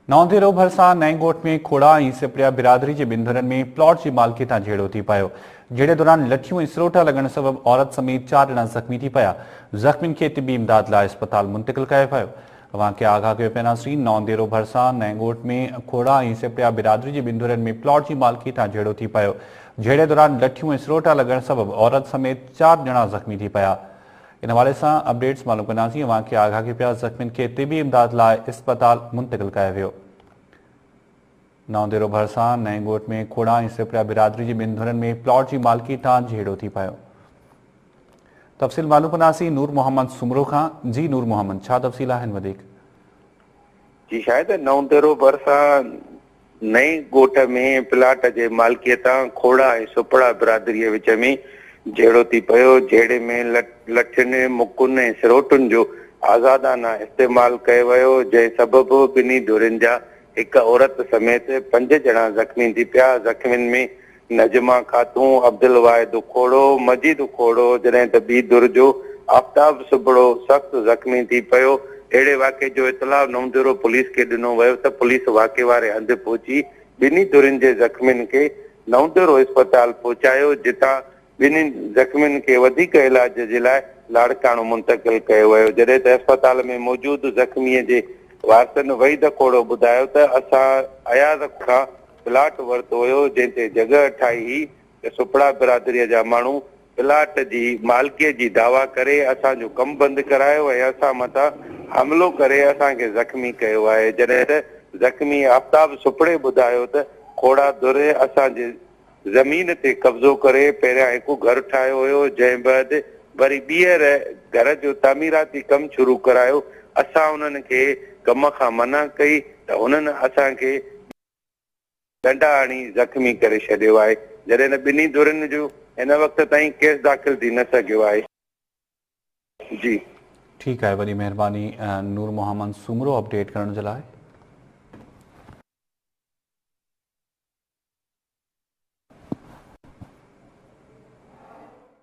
نوندي رو ڀرسان نئين ڳوٺ ۾ کوڙا ۽ سپڙيا برادري جي ٻن ڌرن ۾ پلاٽ جي مالڪي تان جهيڙو ٿي پيو جهيڙي دوران لٺيون ۽ سروٽا لڳڻ سبب عورت سميت چار ڄڻا زخمي ٿي پيا زخمين کي طبي امداد لاء اسپتال منتقل ڪيو ويو اوهان کي آگاهه ڪيو پيناسين نوندي رو ڀرسان نئين ڳوٺ ۾ کوڙا ۽ سپڙيا برادري جي ٻن ڌرن ۾ پلاٽ جي مالڪي تان جهيڙو ٿي پيو جهيڙي دوران لٺيون ۽ سروٽا لڳڻ سبب عورت سميت چار ڄڻا زخمي ٿي پيا ان حوالي سان اپڊيٽس معلوم ڪنداسين اوهان کي آگاهه ڪي پيا زخمين کي طبي امداد لاء اسپتال منتقل ڪيا ويو نئون ديرو ڀرسان نئين ڳوٺ ۾ کوڙا ۽ سپريا برادري جي ٻن ڌرين ۾ پلاٽ جي مالڪي تان جهيڙو ٿي پيو تفصيل معلوم ڪنداسين نور محمد سومرو کان جي نور محمد ڇا تفصيل آهن وڌيڪ جي شايد نئون ديرو ڀرسان نئين ڳوٺ ۾ پلاٽ جي مالڪيتان کوڙا ۽ سپڙا برادريء وچ ۾ جهيڙو ٿي پيو، جهيڙي ۾ لٺين، مڪن ۽ سروٽن جو آزادانه استعمال ڪيو ويو، جنهن سبب ٻنهي ڌرين جا هڪ عورت سميت پنج ڄڻا زخمي ٿي پيا، زخمين ۾ نجمه خاتون، عبدالواحد اکوڙو، مجيد اکوڙو، جڏهن ته ٻي ڌر جو آفتاب سبڙو سخت زخمي ٿي پيو. اهڙي واقعي جو اطلاع نوجهرو پوليس کي ڏنو ويو ته پوليس واقعي واري هنڌ پهچي ٻنهي ڌرين جي زخمين کي نوجهرو اسپتال پهچايو جتان ٻنهي زخمين کي وڌيڪ علاج جي لاء لاڙڪاڻو منتقل ڪيو ويو جڏهن ته اسپتال ۾ موجود زخمي جي وارثن وحيد اکوڙو ٻڌايو ته اسان اياز کان پلاٽ ورتو هيو جنهن تي جڳهه ٺاهي هئي ته سپڙا برادريء جا ماڻهو پلاٽ جي مالڪيء جي دعويٰ ڪري اسان جو ڪم بند ڪرايو ۽ اسان مٿان حملو ڪري اسان کي زخمي ڪيو آهي جڏهن ته زخمي آفتاب سپڙي ٻڌايو ته کوڙا در اسان جي زمين تي قبضو ڪري پهريان هڪ گهر ٺاهيو هيو جنهن بعد وري ٻيهر گهر جو تعميراتي ڪم شروع ڪرايو اسان انهن کي ڪم کان منع ڪئي ته انهن اسان کي ڏنڊا هڻي زخمي ڪري ڇڏيو آهي، جڏهن ته ٻنهي ڌرين جو هن وقت تائين ڪيس داخل ٿي نه سگهيو آهي. جي. ٺيڪ آهي وڏي مهرباني نور محمد سومرو اپڊيٽ ڪرڻ جي لاء.